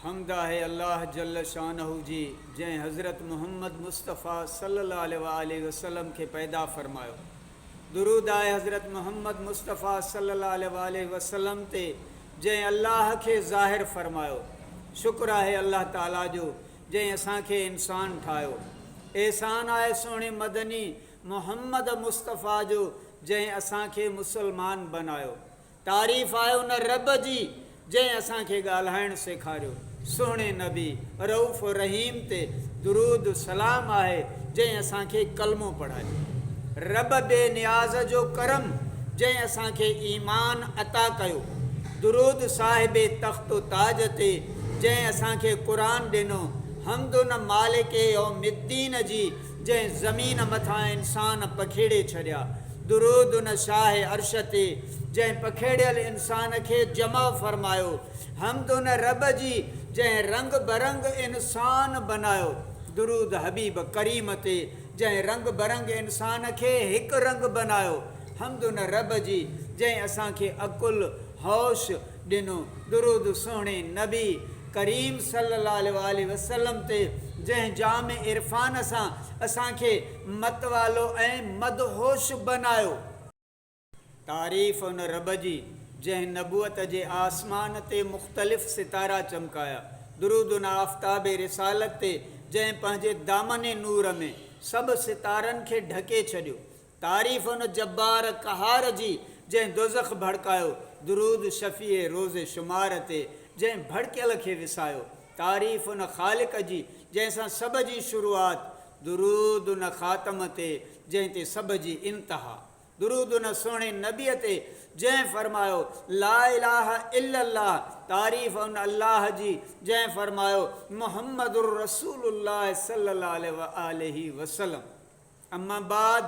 حمد آهي الله جل شانه جي جنهن حضرت محمد مصطفيٰ صلي الله عليه وآله وسلم کي پيدا فرمايو. درود آهي حضرت محمد مصطفيٰ صلي الله عليه وآله وسلم تي جنهن الله کي ظاهر فرمايو. شڪر آهي الله تعالي جو جنهن اسان کي انسان ٺاهيو. احسان آهي سهڻي مدني محمد مصطفيٰ جو جنهن اسان کي مسلمان بنايو. تعريف آهي ان رب جي جنهن اسان کي ڳالهائڻ سيکاريو. سهڻي نبي رئوف الرحيم تي درود سلام آهي جنهن اسان کي ڪلمو پڙهايو. رب بي نياز جو ڪرم جنهن اسان کي ايمان عطا ڪيو. درود صاحب تخت و تاج تي جنهن اسان کي قرآن ڏنو. حمد ان مالڪ يوم الدين جي جنهن زمين مٿان انسان پکيڙي ڇڏيا. درود ان شاهه عرش تي جنهن پکيڙيل انسان کي جمع فرمايو. حمد ان رب جي جنهن رنگ برنگ انسان بنايو. درود حبيب ڪريم تي جنهن رنگ برنگ انسان کي هڪ رنگ بنايو. حمد ان رب جي جنهن اسان کي عقل، هوش، ڏنو، درود سهڻي نبي ڪريم صلي الله عليه وآله وسلم تي جنهن جام عرفان سان اسان کي متوالو ۽ مدهوش بنايو. تعريف ان رب جي جنهن نبوت جي آسمان تي مختلف ستارا چمڪايا، درود ان آفتاب رسالت تي جنهن پنهنجي دامن نور ۾ سڀ ستارن کي ڍڪي ڇڏيو، تعريف ان جبار قهار جي، جنهن دوزخ ڀڙڪايو، درود شفيع روز شمار تي، جنهن ڀڙڪيل کي وسايو، تعريف ان خالق جي، جنهن سان سڀ جي شروعات، درود ان خاتم تي، جنهن تي سڀ جي انتها، درود ان سهڻي نبيء تي، جنهن فرمايو، لا اله الا الله، تعريف ان الله جي، جنهن فرمايو، محمد رسول الله صلي الله عليه وآله وسلم. اما بعد،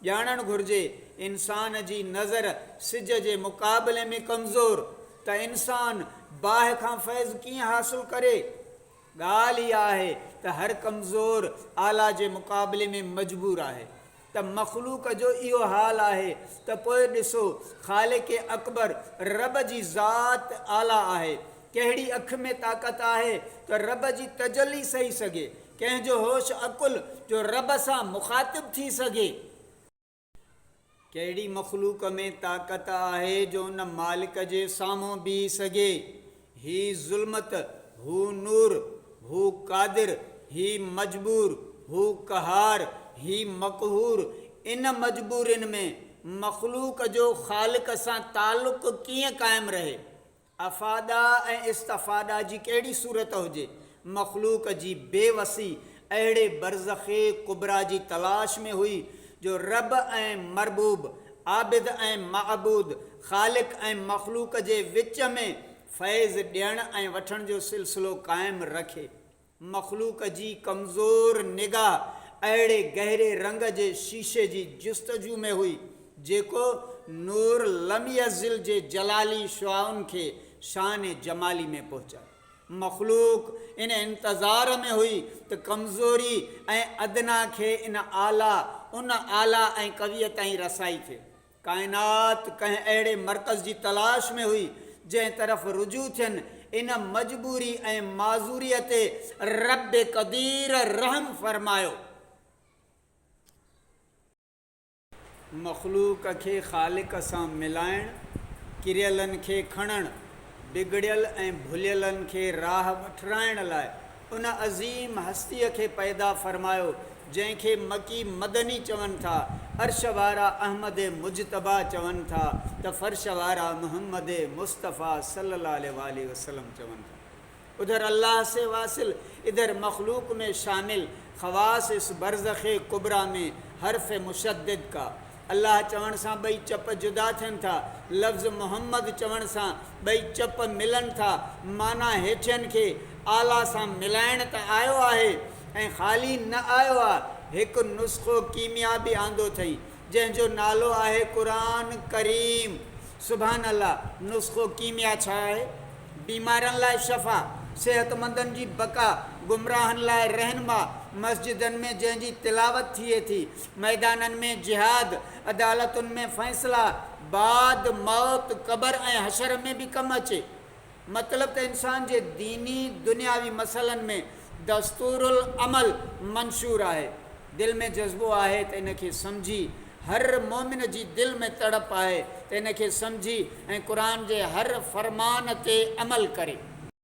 ڄاڻڻ گهرجي، انسان جي نظر سج جي مقابلي ۾ ڪمزور، ته انسان باهه کان فيض ڪيئن حاصل ڪري؟ ڳالهه اها آهي ته هر ڪمزور اعليٰ جي مقابلي ۾ مجبور آهي، ته مخلوق جو اهو حال آهي، ته پوء ڏسو خالق اڪبر رب جي ذات اعليٰ آهي، ڪهڙي اک ۾ طاقت آهي ته رب جي تجلي سهي سگهي، ڪنهن جو هوش عقل جو رب سان مخاطب ٿي سگهي، ڪهڙي مخلوق ۾ طاقت آهي جو ان مالڪ جي سامهون بيهي سگهي، هي ظلمت، هو نور، هو قادر، هي مجبور، هو قهار، هي مقهور، ان مجبورين ۾ مخلوق جو خالق سان تعلق ڪيئن قائم رهي؟ افاده ۽ استفاده جي ڪهڙي صورت هجي، مخلوق جي بي وسي اهڙي برزخ ڪبريٰ جي تلاش ۾ هئي جو رب ۽ مربوب، عابد ۽ معبود، خالق ۽ مخلوق جي وچ ۾ فيض ڏيڻ ۽ وٺڻ جو سلسلو قائم رکي. مخلوق جي ڪمزور نگاهه اهڙي گهري رنگ جي شيشي جي جستجو ۾ هئي، جيڪو نور لم يزل جي جلالي شعاعن کي شان جمالي ۾ پهچائي. مخلوق ان انتظار ۾ هئي ته ڪمزوري ۽ ادنيٰ کي ان اعليٰ، ان اعليٰ ۽ قويء تائين رسائي ٿئي. ڪائنات ڪنهن اهڙي مرڪز جي تلاش ۾ هئي، جنهن طرف رجوع ٿين. ان مجبوري ۽ معذوريء تي رب قدير رحم فرمايو. مخلوق کي خالق سان ملائڻ، ڪريلن کي کڻڻ، بگڙيل ۽ ڀليلن کي راهه وٺرائڻ لاء ان عظيم هستيء کي پيدا فرمايو، جنهن کي مڪي مدني چون ٿا، عرش وارا احمد مجتبيٰ چون ٿا ته فرش وارا محمد مصطفيٰ صلّي اللّٰه عليه واٰله وسلّم چون ٿا. ادھر الله سي واصل، ادھر مخلوق مين شامل، خواص اس برزخ ڪبريٰ مين حرف مشدّد ڪا. الله چوڻ سان ٻئي چپ جدا ٿين ٿا. لفظ محمد چوڻ سان ٻئي چپ ملن ٿا. معنيٰ هيٺين کي اعليٰ سان ملائڻ ته آيو آهي ۽ خالي نه آيو آ، هڪ نسخو ڪيميا به آندو ٿئين، جنهن جو نالو آهي قرآن ڪريم. سبحان الله! نسخو ڪيميا ڇا آهي؟ بيمارن لاء شفا، صحتمندن جي بقا، گمراهن لاء رهنما، مسجدن ۾ جنهن جي تلاوت ٿئي ٿي، ميدانن ۾ جهاد، عدالتن ۾ فيصلا، بعد موت، قبر ۽ حشر ۾ به ڪم اچي. مطلب ته انسان جي ديني دنياوي مسئلن ۾ دستور العمل منشور آهي. دل ۾ جذبو آهي ته ان کي سمجهي، هر مؤمن جي دل ۾ تڙپ آهي ته ان کي سمجهي ۽ قرآن جي هر فرمان تي عمل ڪري.